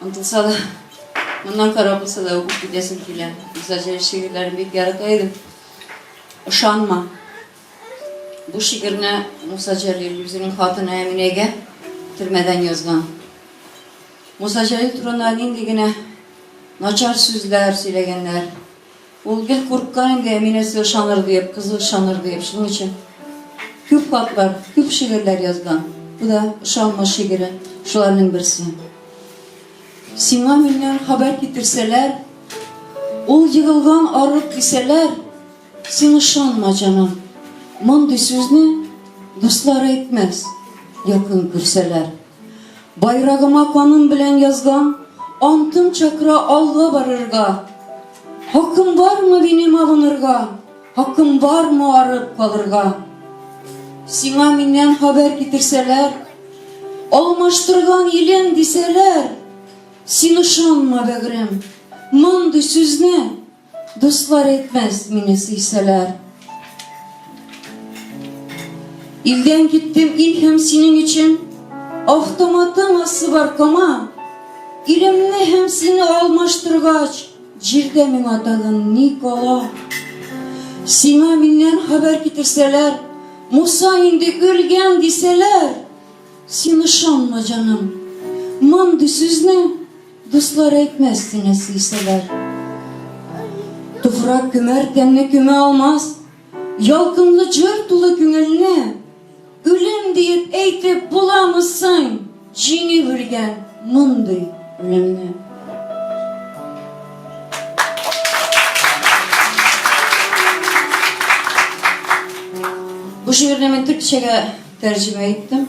Онтылса да, моннан кара булса да үбеп китәсем килә. Зәҗәй шигырьләрен бик ярата идем. Ышанма. Бу шигырьне Муса Җәлил үзенең хатыны Әминәгә төрмәдән язган. Муса Җәлил турында нинди генә начар сүзләр сөйләгәннәр. Ул гел курка инде, Әминә сиңа шаныр диеп, кызыл шаныр диеп. Шуның өчен күп хатлар, күп шигырьләр язган. Бу да ышанма шигыре, шуларның берсе. Сиңа миннән хәбәр китерсәләр, ул егылган арык дисәләр, син ышанма, җаным. Мондый сүзне дуслар әйтмәс, якын күрсәләр. Байрагыма каным белән язган, антым чакыра алга барырга. Хакым бармы минем абынырга, хакым бармы арып калырга? Сиңа миннән хәбәр китерсәләр, алмаштырган илен дисәләр, син ышанма, бәгырем, мондый сүзне Дуслар әйтмәс, мине сөйсәләр. Илдән киттем, ил һәм синең өчен, Автоматым асы бар кома, Илемне һәм сине алмаштыргач, Җирдә миңа тагын ни кала? Сиңа миннән хәбәр китерсәләр, Муса инде үлгән дисәләр, Син ышанма, җаным, мондый сүзне. Дуслар әйтмәс сине сөйсәләр. Туфрак көмәр тәнне көмә алмас, Ялкынлы җыр тулы күңелне, Үлем диеп әйтеп буламы соң, Җиңеп үлгән мондый үлемне? Бу шигырьне мин төркчәгә тәрҗемә иттем.